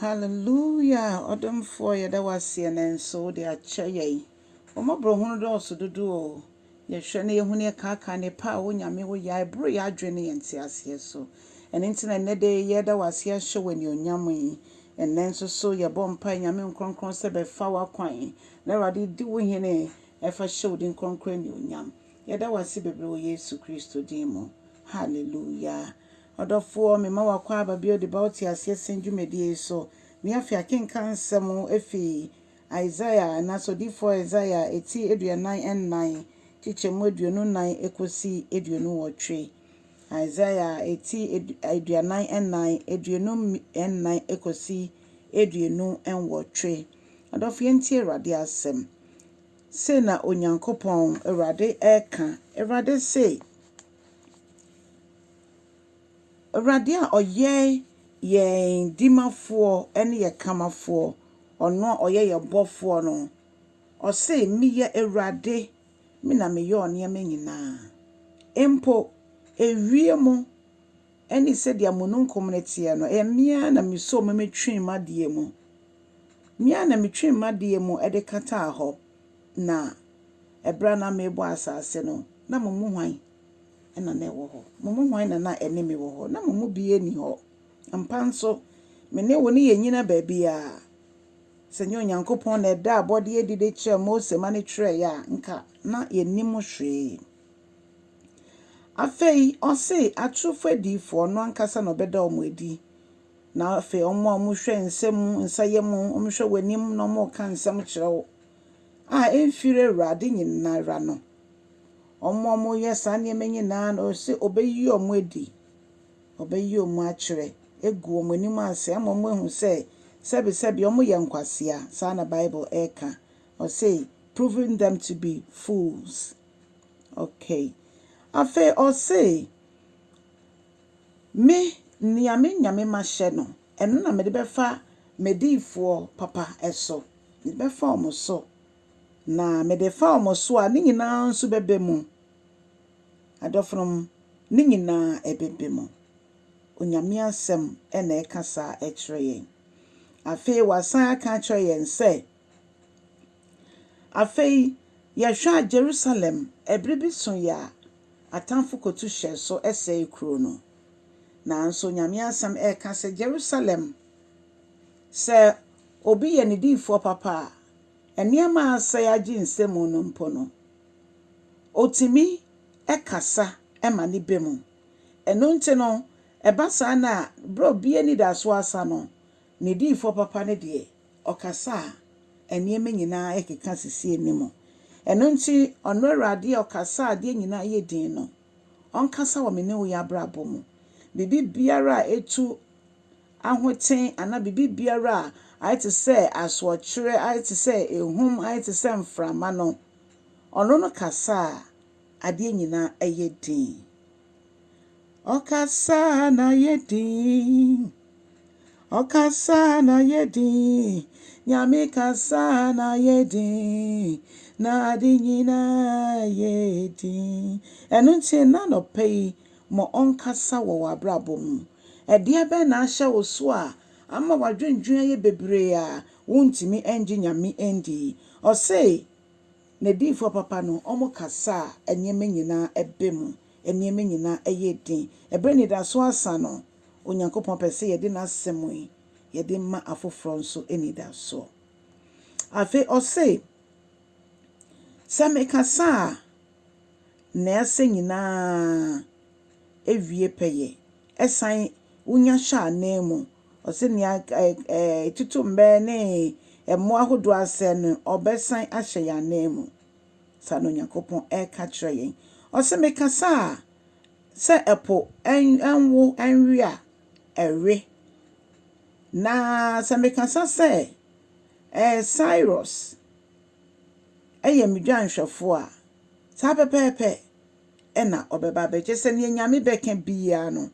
Hallelujah ɔdomfoɔ yɛda wo aseɛ nɛ nso wode akyɛ yɛn wo mmɔborɔhunu dɔɔso dodo o yɛhwɛ na yɛhu ne yɛkaaka nnepa a wo Nyame wo yɛ a ɛboro yɛ adwene ne yɛn nteaseɛ so ɛno nti na nnɛ da yi yɛda wo aseɛ ahyɛ wo anuonyam yi nnɛ nso so yɛbɔ mpae Nyame nkrɔnkrɔn sɛ bɛfa w'akwan na Awurade di wo hene ɛfa hyɛ wo din krɔnkrɔn anuonyam yɛda wo ase bebree wɔ Yesu Kristo din mu Hallelujah. Ɔdɔfoɔ, mema wakɔ aba bio de ba wo teaseɛ sɛn dwumadie yi so. Nea afei akenkan nsɛm afi Isaiah anaasɛ odiyifoɔ Isaiah ti aduanan nnan kyekyɛmu aduonu nnan kɔsi aduonu nwɔtwe. Isaiah ti aduanan nnan aduonu nnan kɔsi aduonu nwɔtwe. Ɔdɔfoɔ yɛntie Awurade asɛm. Sei na Onyankopɔn Awurade reka, Awurade se. Awurade a ɔyɛ yɛn dimafoɔ ne yɛn kamafoɔ, ɔno a ɔyɛ yɛn bɔfoɔ no, ɔse, Meyɛ Awurade, me na meyɛ nneɛma nyinaa. Mpo ewiem ne sɛdeɛ mununkum no teɛ no, ɛyɛ me ara na mesoo mu metwee m'adeɛ mu. Me ara na metwee m'adeɛ mu de kataa hɔ. Na ɛberɛ a na merebɔ asase no, na mo mu hwan na na ɛwɔ hɔ? Mo mu hwan na na ɛne me wɔ hɔ? Na mo mu biara nni hɔ. Ampa nso, me ne wo ne yɛnnyina baabiara. Sɛ ɛnyɛ Onyankopɔn na ɛdaa abɔdeɛ adi de kyerɛɛ Mose ma no twerɛeɛ a, anka na yɛnnim hwee. Afei, ɔse, atorofoɔ adiyifoɔ, ɔno ankasa na ɔbɛda wɔn adi. Na afei, wɔn a wɔhwɛ nsɛm mu, nsayɛ mu, wɔhwɛ w'anim na wɔreka nsɛm kyerɛ wo, a emfir Ewuradze nyinara no, ɔma wɔyɛ saa nneɛma nyinara na ɔse obeyi wɔn adi, ɔbɛyɛ wɔn akyerɛ, egu wɔn anim ase ama wɔahu sɛ sɛbesɛbe wɔyɛ nkwasea, saa na Bible reka, ɔse proving them to be fools. Okay. Afei ɔse, Me, nea me Nyame mahyɛ no, ɛno na mede bɛfa m'adiyifoɔ papa so, mede bɛfa wɔn so, na mede fa wɔn so a, ne nyinaa nso bɛba mu, adɔfonom, ne nyinaa ɛbɛba mu. Onyame asɛm na ɛka saa kyerɛ yɛn. Afei wasan aka akyerɛ yɛn sɛ. Afei, yɛhwɛ a, Jerusalem, bere bi so yɛ a, atamfo kotu hyɛɛ so sɛee kurow no. Nanso Nyame Asɛm ka sɛ Jerusalem, sɛ obi yɛ ne diyifoɔ papa a, nneɛma a asɛe agye nsam no mpo no, otumi kasa ma ne bɛ mu. Ɛno nti no, ɛba saa no a, bere a obi anidaso asa no, ne diyifoɔ papa no deɛ, Ɔkasa a, nneɛma nyinaa rekeka sisi anim. Ɛno nti, ɔno Awurade a ɔkasa a adeɛ nyinaa yɛ dinn no, ɔnkasa wɔ me ne wo yi abrabɔ mu. Biribi biara a ɛtu ahoten anaa biribi biara a ayɛ te sɛ asoɔkyerɛ, ayɛ te sɛ ahum, ayɛ te sɛ mframa no, ɔno no kasa a, adeɛ nyinaa yɛ dinn. Ɔkasa na yɛ din, ɔkasa na yɛ din, Nyame kasa na yɛ din, na ade nyinaa yɛ din. Ɛno nti na anɔpa yi ma ɔnkasa wɔ w'abrabɔ mu. Ɛdeɛ bɛn na ahyɛ wo so a ama w'adwendwen ayɛ bebree a wontumi ngye Nyame ndi? Ɔse N'adiyifoɔ papa no wɔkasa a nneɛma nyinaa ba mu. nneɛma nyinaa yɛ den. Bere a anidaso asa no, Onyankopɔn pɛ sɛ yɛde n'Asɛm yi yɛde ma afoforo nso anidaso. Afei ɔse, Sɛ mekasa a, nea ɛsɛ nyinaa wie pɛyɛ. Ɛsan wonya hyɛ ananmu. Ɔse nea ɛtoto mmɛ ne mmoa ahodoɔ asɛe no, ɔbɛsan ahyɛ yɛn ananmu. Saa na Onyankopɔn reka kyerɛ yɛn. Ɔse mekasa a, sɛ ɛpo nwo nwe a, ɛwe. Na sɛ mekasa sɛ, ɛɛ Cyrus, ɛyɛ me dwanhwɛfoɔ a, saa pɛpɛɛpɛ ɛna ɔbɛba abɛgye. Sɛ neɛ Nyame bɛka biaa no,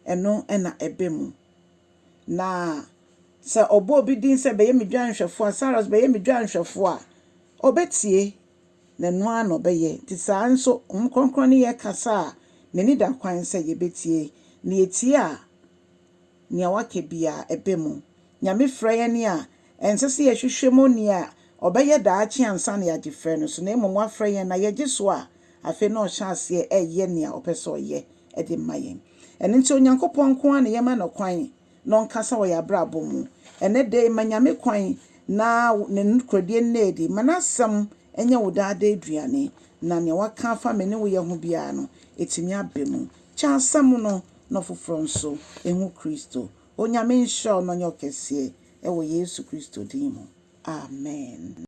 ɛno ɛna ɛbɛ mu. Na sɛ ɔbɔ obi din sɛ bɛyɛ me dwanhwɛfoɔ a, Saros bɛyɛ me dwanhwɛfoɔ a, ɔbɛtie, na ɛno ara na ɔbɛyɛ. Nti saa ara nso, Honhom Kronkron ne yɛn kasa a, n'ani da kwan sɛ yɛbɛtie, na yɛtie a, nea waka biara, ɛba mu. Nyame frɛ yɛn a, Ɛnsɛ sɛ yɛhwehwɛ mu nea ɔbɛyɛ daakye ansa na yɛagye frɛ no so, na mmom wafrɛ yɛn na yɛgye so a, afei na ɔhyɛ aseɛ reyɛ nea ɔpɛ sɛ ɔyɛ de ma yɛn. Ɛno nti, Onyankopɔn nko ara na yɛma no kwan na ɔnkasa wɔ yɛn abrabɔ mu. Ɛnnɛ da yi, ma Nyame kwan na Ne nokorɛdie nna adi. Ma N'asɛm nyɛ wo daa da aduane, na nea waka afa me ne wo yɛ ho biara no, ɛtumi aba mu. Kyɛ asɛm no na ɔfoforɔ nso nhu Kristo. Onyame nhyira wo na ɔnyɛ wo kɛseɛ wɔ Yesu Kristo din mu. Amen.